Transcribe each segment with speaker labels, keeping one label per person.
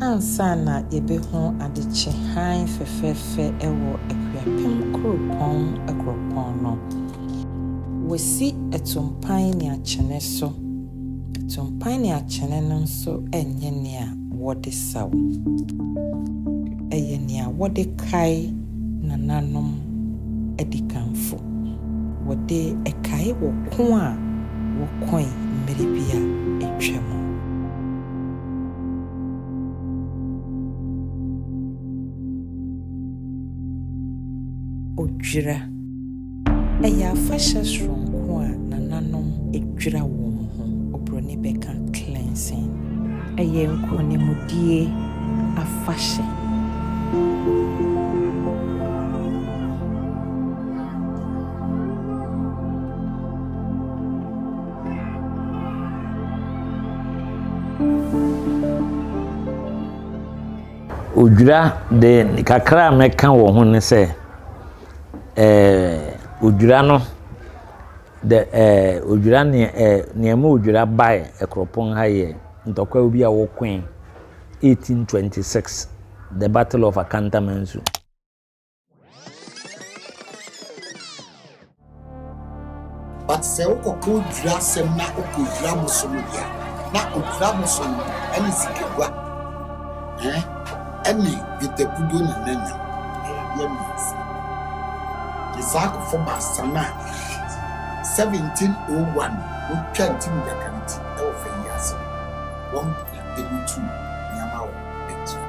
Speaker 1: Ansa na yebehu adekye hann fɛfɛɛfɛ wɔ Akuapem Kuropɔn akuropɔn no, wɔasi atumpan ne akyene so. Atumpan ne akyene no nso nyɛ nea wɔde saw. Ɛyɛ nea wɔde kae nananom adikanfo. Wɔde kae wɔ ko a wɔkoe mmere bi a atwam. Odwira. Ɛyɛ afahyɛ soronko a nananom dwira wɔn ho, oburoni bɛka cleansing. Ɛyɛ nkonimdie afahyɛ.
Speaker 2: Odwira de kakra a mɛka wɔ ho ne sɛ, ɛɛ, odwira no, the ɛɛ, odwira nea ɛɛ, nea ɛma odwira bae Akuropɔn ha yɛ ntɔkwaw bi a wɔkoe 1826, the battle of Akantamansu.
Speaker 3: But sɛ wokɔ kɔ dwira asɛm na wokɔ dwira bosom deɛ a, na odwira bosom no ɛne sikagua ɛne dwetɛkuduo na na nya ayadeɛ mmiɛnsa ne saa akofo baasa no a 1701 wɔtwa ntim gyakari ti ɛwɔ fa yi ase no wɔn na ɛmu tuu nneɛma wɔ akyire.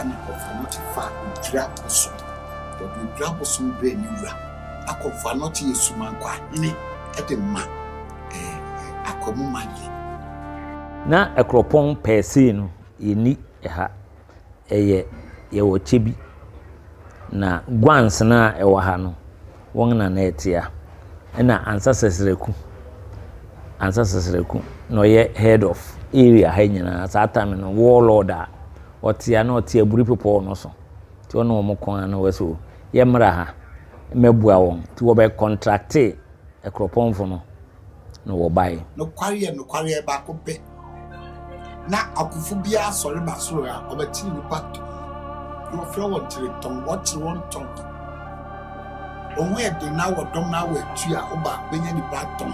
Speaker 3: ɛna ɔfa nɔte fa odwira bosom. Wɔde odwira bosom brɛ ne wura. Akɔmfo anɔte yɛ sumankɔ ahene de ma akwamu mayɛ. Na
Speaker 2: ɛkorɔpɔn pɛɛ sei no yɛnni ɛha. Ɛyɛ yɛwɔ kyɛ bi. Na guansena a ɛwɔ ha no. wɔn na na ɛtea. Ɛna Ansah Sasraku, Ansah Sasraku na ɔyɛ head of area ha nyinaa. Saa time no warlord a ɔtea na ɔte aburi pepɔw no so. Nti ɔne wɔn ko ara na wɔ so yɛmmra ha mmɛboa wɔn. Nti wɔbɛ contractee akuropɔnfo no. na wɔbae. Nokwareɛ, nokwareɛ,
Speaker 3: baako pɛ. Na akofo biara sɔre ba soro a, wɔbɛkyere nnipa tɔn. Na wɔfrɛ wɔn kyeretɔn, wɔkyere wɔn tɔn. Wɔn ho yɛ den na wɔ dɔm na wɔ atu a, woba bɛnya nnipa atɔn.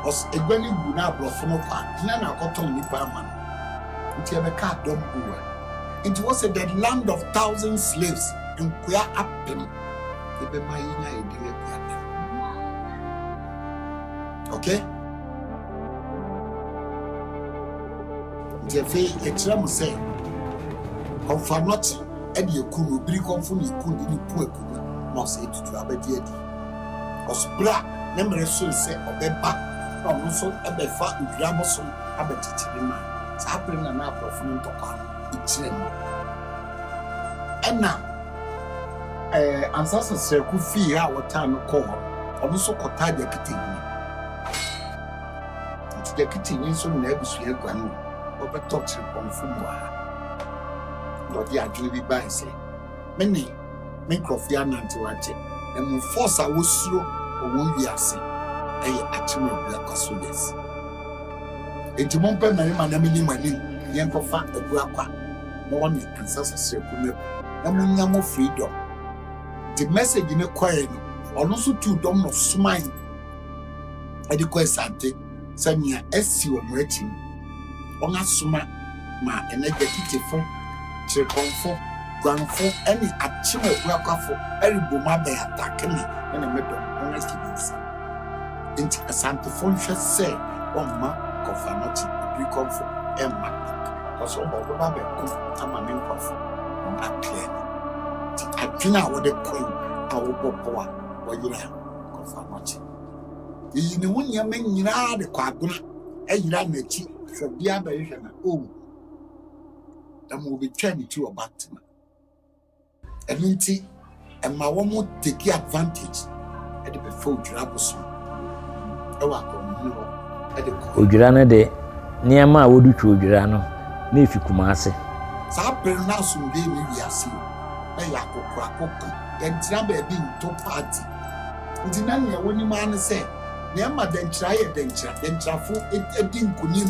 Speaker 3: Ɔs egua no gu na aborɔfo no kɔ a, hena na akɔtɔn nnipa ama no? Nti ɛbɛkaa dɔm buu a. Nti wɔse the land of thousand slaves, nkoa apem. yɛbɛma yɛnya yɛn din aduane okay nti afei ɛkyerɛ mo sɛ kɔmfa nɔkye ɛde ɛku no biri kɔmfo ne ɛku de ne ku ɛku no na ɔsɛ ɛtutu abɛde adi ɔsobere a ne mmerɛ so sɛ ɔbɛba na ɔno nso ɛbɛfa ntwira bosom abɛkyekye ne ma saa bere na na aborɔfo no ntɔkwa no ɛkyerɛ mu ɛna Ɛɛ, ansa sɛ Srɛko fii ha a wɔtaa no kɔɔ hɔ no, ɔno nso kɔtaa Gyaketenyi. Nti Gyaketenyi nso ne n'abusua guan ma wɔbɛtɔ Kyerepɔnfo mu ha. Na ɔde adwene bi bae sɛ, Me ne me nkurɔfo yɛanantew akyɛ, na mmom force a wosuro wɔ wɔn wiase yɛ akyem abura kwa so yes. Nti mompɛ mmarima na minni mo anim, yɛnkɔfa abura kwa na wɔne nsa so srɛkunya mu na monya mo freedom. Nti message no kɔɛ no, ɔno nso tuu dɔm no somae ɛde kɔ Asante sɛ nea asi wɔn akyi no, wɔn asoma ma ɛnɛ Gatitifo, Kyerepɔnfo, Guanfo ɛne Akyem Abuakwafo ɛrebom abɛn atake me ɛne me dɔm, wɔn asi me nsa. Enti Asantefo nhwɛ sɛ wɔmma Kɔfanɔkye Abuikɔmfo mma cause ɔbɔ bɛba abɛko ama me nkorɔfo wɔn apeɛ no nti adwene a wɔde kɔ yi a wɔbɔ pɔw a wɔyera Kɔfanɔkye yiyi ne ho nneɛma nyinaa de kɔ agona ɛyera n'akyi hwɛ bia bɛhwehwɛ na owu ɛma obetwa ne ti wɔ back to me. Ɛno nti, ɛma wɔn take advantage de bɛfa odwira bosom wɔ akwahohene hɔ
Speaker 2: de kɔ. Odwira no de nneɛma a wɔde twa odwira no na efi Kumase. Saa bere
Speaker 3: no asomdwoe nni wiase o, na ɛyɛ akokoakoko, dɛnkyira baabi nto party. Nti na nea wonim ara ne sɛ nea ɛma dɛnkyira yɛ dɛnkyira, dɛnkyirafo di nkonim.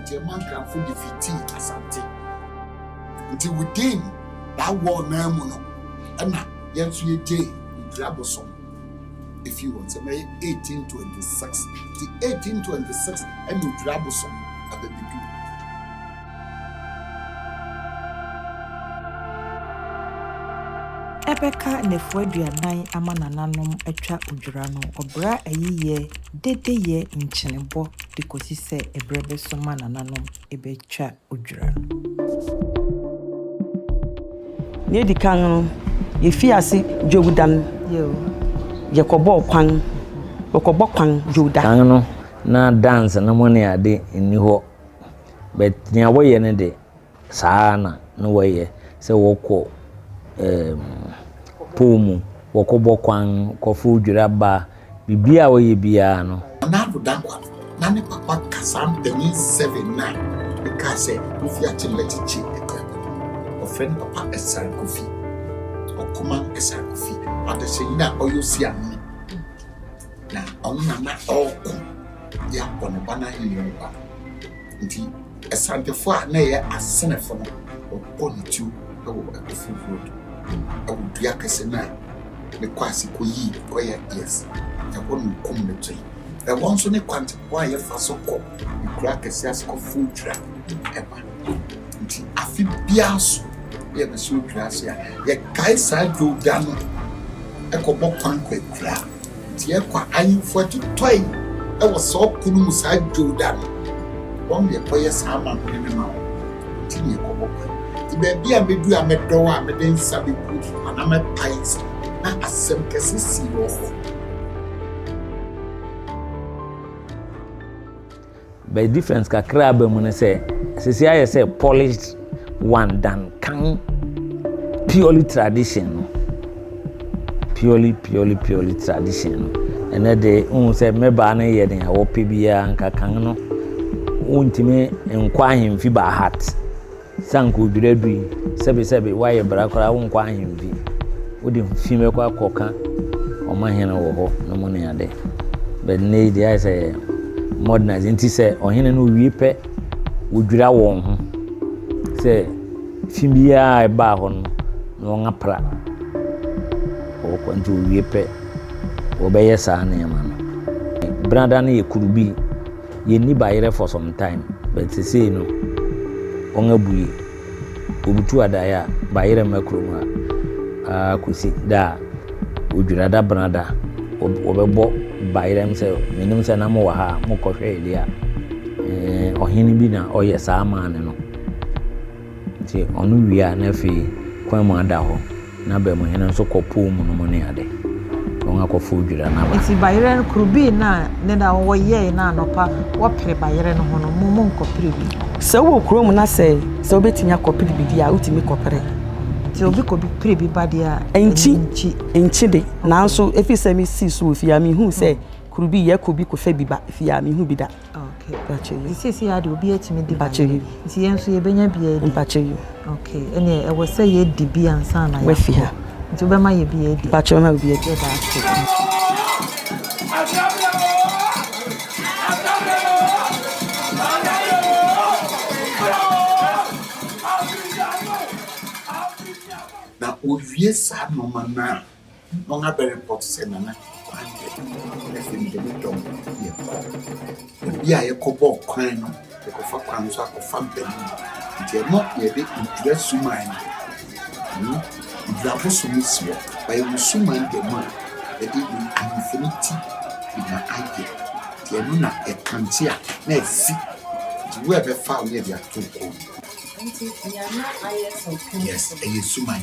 Speaker 3: Nti ɛma Nkranfo de fitii Asante. Nti within that war no ara mu no ɛna yɛn nso yɛgyee Mpire abosom efii wɔn nsam. Ɛyɛ 1826. Nti 1826 ɛna Mpire abosom abɛbedu.
Speaker 1: Ɛbɛka nnafua aduanan ama nananom atwa odwira no, ɔbra ayiyɛ, dedeyɛ, nkyenebɔ de kosi sɛ ɛberɛ bɛso ma nananom bɛtwa odwira no.
Speaker 4: Nea edi kan no, yefii ase Dwowda no, yɛkɔbɔɔ kwan, wɔkɔbɔ kwan Dwowda. Kan no,
Speaker 2: na dance no mu ne ade nni hɔ. But nea wɔyɛ no de, saa ara na na wɔyɛ sɛ wɔkɔ ɛɛm pɔw mu, wɔkɔbɔ kwan, kɔfow dwira ba, biribiara a wɔyɛ biara no. Nado Dankwa,
Speaker 3: na ne papa kasaa mpanyin seven no a mekaa sɛ wofi Akyemmɛkyekye akuraa bi mu. Wɔfrɛ ne papa Ɛsar Kofi, Ɔkoman Ɛsar Kofi, adasanyi a ɔyɛ osiamhene. Na ɔno na na ɔrekɔ de abɔ ne ba no ahenni ho ba. Nti, asantefo a na ɛyɛ asenefo no, wɔbɔ ne tuo wɔ Akufo Road, wɔ dua kɛse no a ne kɔ ase kɔyii kɔyɛ yes. Ɛhɔ na wɔkum no toe. Ɛhɔ nso ne kwante kwan a yɛfa so kɔ nkuraa akɛseɛ ase kɔforo dwira ɛma nti afe biara so yɛ bɛsɛ odwira ase a yɛkae saa dwowda no ɛkɔbɔ kwan kɔ akura nti yɛkɔ ahemfo atotɔe ɛwɔ saa ɔko no mu saa dwowda no wɔn deɛ kɔyɛ saa amammerɛ no ma wɔn nti ne yɛkɔbɔ kwan nti baabi a mɛdu a mɛdɔw a mede nsa bɛgu anaa mɛpae nsa na asɛm kɛse sii wɔ hɔ
Speaker 2: But difference kakra aba mu ne sɛ sisi ayɛ sɛ polished one than kan purely tradition no purely purely purely tradition no ɛnɛ de n sɛ mmɛbaa no yɛ nea wɔpɛ biara nka kan no wontumi nkɔ ahemfi by heart. Sɛ anka odwira adu yi, sɛbesɛbe woayɛ bra koraa wonkɔ ahemfi. Wode fi bɛkɔ akɔka ɔmahene wɔ hɔ no mu ne ade. But nnɛ yi deɛ ayɛ sɛ yɛ modernize nti sɛ ɔhene no owie pɛ wodwira wɔn ho sɛ fi biara ɛbaa hɔ no na wɔn apra wɔkɔ nti owie pɛ wɔbɛyɛ saa nneɛma no. Brada no yɛ kuru bi. yɛnni bayerɛ for some time but sesei no wɔn abue obutu adaeɛ a bayerɛ mma kurom ha aa kɔsi da a odwirada benada wɔbɛbɔ bayerɛ m sɛ menim sɛ na mowɔ ha a mokɔhwɛe deɛ a ɔhene bi na ɔyɛ saa maa ne no Ntsi ɔno wie a na afei kwan mu ada hɔ na Bamuhɛn no so kɔ pool mu no mu ne adze na ɔnwa kɔ fow dwira na ba. Ntsi bayerɛ no kor
Speaker 1: bii na ne da wɔ yɛe na anɔpa wɔ per bayerɛ no ho no mo mo nkɔ per bi. Sɛ wo wɔ kurow mu na
Speaker 4: sɛ sɛ wo betumi akɔ per bi dze a wo tumi kɔ per. Ntsi obi kɔ
Speaker 1: bi per bi ba dze a Nnkyi, emi nnkyi. Nnkyi
Speaker 4: de, naaso efisɛ me sii so wɔ fie a me hun sɛ kor bii yɛ kɔ bi kɔ fɛ bi ba fie a me hun bi da. Okay, mpakyɛ
Speaker 1: yi. Sisi ade obi atumi di mpakyɛ yi. Nti yɛn nso yɛbɛnya bi adi. Mpakyɛ yi. Okay,
Speaker 4: ɛnna
Speaker 1: ɛwɔ sɛ yɛdi bi ansa na yɛn. Wafi ha. Nti
Speaker 4: wobɛma yɛ bi
Speaker 1: adi. Mpakyɛ ɔma obi adi. Yɛda
Speaker 4: ase. Na owie saa nneɛma no a,
Speaker 3: Wɔn abɛreport sɛ Nana Kwande afei mede me dɔm yɛkɔ. Baabi a yɛkɔbɔɔ kwan no, yɛkɔfa kwan no so akɔfa mpanin. Nti ɛno yɛde odwira suman no, hmm, odwira abosom no si hɔ. Ɔyɛ me suman da mu a yɛde me ahemfo no ti na ayɛ. Nti ɛno na yɛkante a na afi. Nti wo a ɛbɛfa wo na yɛde ato wo kɔn mu. Nti
Speaker 1: Nana ayɛ sɛ ɔkanfoɔ. Yes, ɛyɛ suman.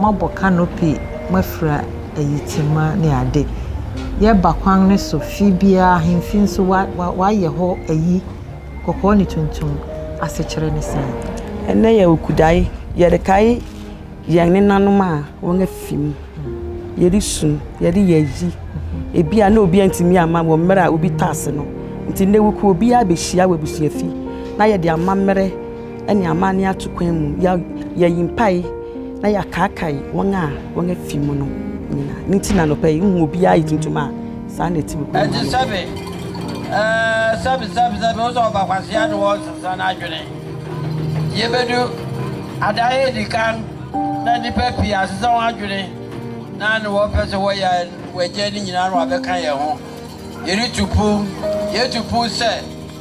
Speaker 1: moabɔ canopy, moafira ayitema ne ade. Yɛba kwan no so, fie biara ahemfi nso wɔayɛ hɔ ayi, kɔkɔɔ ne tuntum. Asekyerɛ ne sɛn? Ɛnnɛ yɛwɔ
Speaker 4: Kudai, yɛrekae yɛn nenanom a wɔafi mu. Yɛresu, yɛreyɛ ayi. Ebia na obiara ntumi amma wɔ mmerɛ a obi tase no nti. Nnɛ wokuo biara bɛhyia wɔ abusuafi na yɛde amammerɛ. ne amanne ato kwan mu, yɛayi mpae na yɛakaakae wɔn a wɔn afi mu no nyinaa. Ne nti na anɔpa yi wohu obiara yɛ tuntum a saa na ɛte wɔ kwan mu ha anɔpa yi.
Speaker 5: Sɛbe, sɛbe, sɛbe, wo sɛ ɔba kwasea de wɔresesa n'adwene. Yebedu adan a edi kan na nnipa pii asesa wɔn adwene na ne wɔpɛ sɛ wɔyɛ wɔagyae no nyinaa na wɔabɛka yɛn ho. Yɛretu pon, yɛatu pon sɛ.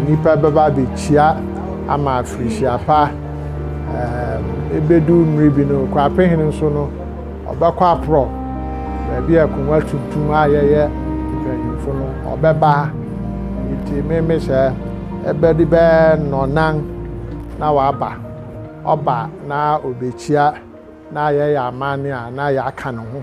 Speaker 6: Nnipa bɛba abɛkyia ama afirihyia pa. Ɛbɛdu mmere bi no, Kwapehene nso no, ɔbɛkɔ aporɔ baabi a akonnwa tuntum a yɛyɛ mpanyimfo no, ɔbɛba. Nti meme sɛ ɛbɛde bɛyɛ nnɔnan na waba. Ɔba na ɔbɛkyia na yɛyɛ amanne a na yɛaka ne ho.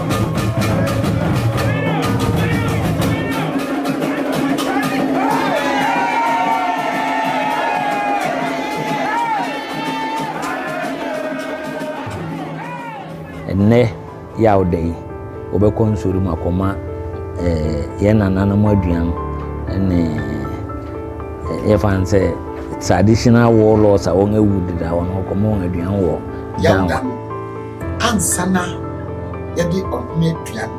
Speaker 2: Ɛnnɛ Yawda yi, wɔbɛkɔ nsɔre mu akɔma eh, yɛn nananom aduan ne eh, yɛfa no sɛ traditional warlords a wɔn awu deda wɔn akɔma wɔn aduan wɔ Yawda.
Speaker 3: Ansa na yɛde ɔhene aduan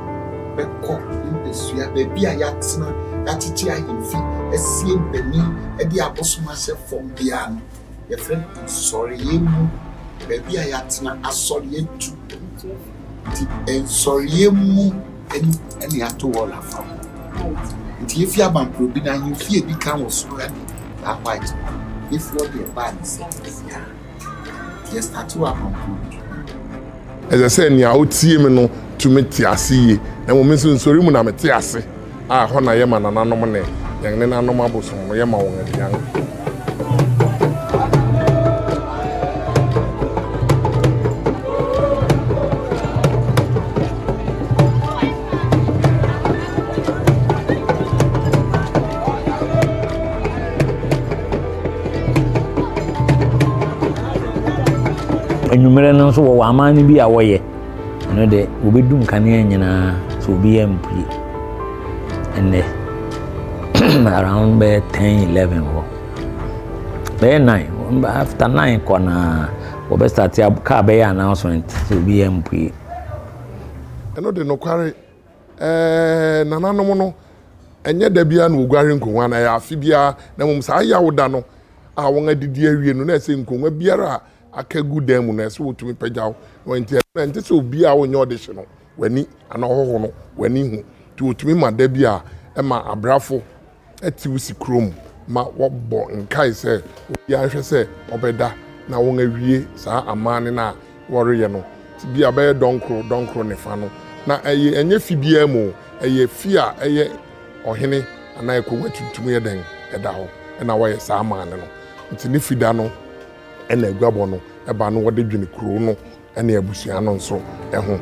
Speaker 3: bɛkɔ ne mpasua, baabi a yɛatena, yɛatete ahemfi, asie mpanin de abosom ahyɛ fam biara no, yɛfrɛ no nsɔreeɛ mu, baabi a yɛatena, asɔre atu. Nti nsɔreeɛ mu na yɛato wɔl afa ho. Nti yɛfi Abankorobi no, ahemfi a ɛdi kan wɔ soro ne Bar White no, yɛfi hɔ de ɛbaa ne sɛ ɛyɛ a. yɛstate wɔ akwankoro bi mu.
Speaker 7: Ɛsɛ sɛ nea otie me no tumi te ase yie, na mmom nso nsɔre mu na mete ase, a ɛhɔ na yɛma nananom ne yɛn nenanom abosom no, yɛma wɔn aduan.
Speaker 2: anwummerɛ no nso wɔwɔ aman no bi a wɔyɛ ɛno deɛ wɔbɛdu nkanea nyinaa so obiara mpue ɛnɛ around bɛyɛ ten eleven hɔ bɛyɛ nine after nine kɔ naa wɔbɛstate car bɛyɛ announcement so obiara mpue
Speaker 7: ɛno de nokware Ɛɛ, nananom no, ɛnyɛ da biara na wɔguare nkongua no, ɛyɛ afe biara, na mmom saa yaw da no a wɔadidi awie no, na ɛsɛ nkongua biara a aka gu dan mu no, ɛsɛ wɔtumi pagyaw. Na ɛnti ɛno na ɛnte sɛ obi a ɔnyɛ ɔdehye no w'ani anaa ɔhɔho no w'ani hu. Nti wɔtumi ma da bi a ɛma abrafo te wo sikuro mu ma wɔbɔ nkae sɛ obiara nhwɛ sɛ ɔbɛda na wɔawie saa amanne no a wɔreyɛ no. Bi a bɛyɛ dɔnkoro dɔnkoro ne fa no. Na ɛyɛ ɛnyɛ fi biara mu o, ɛyɛ fi a ɛyɛ ɔhene anaa ɛkɔm atuntum yɛ dɛn ɛda hɔ na wɔyɛ saa amanne no. Nti ne fi da no na aguabɔ no ba no wɔde dwene kuro no. ne abusua no nso ho.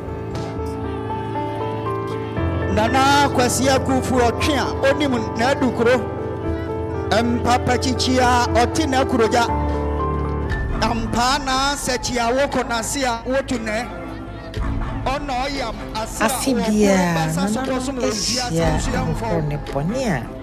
Speaker 8: Nana Kwasi Akufu Ɔtwe a onim n'adukuro mpapakyikyi a ɔte n'akurogya ampaa naa sɛkyi a wokɔ n'ase a wotu nɛ ɔnɔ ɔyam ase a Afe wɔkuro biara, basa so
Speaker 1: nananom kɔsom wɔ wiase hyia nso yɛ ahohɔw. ahorow ne bɔne a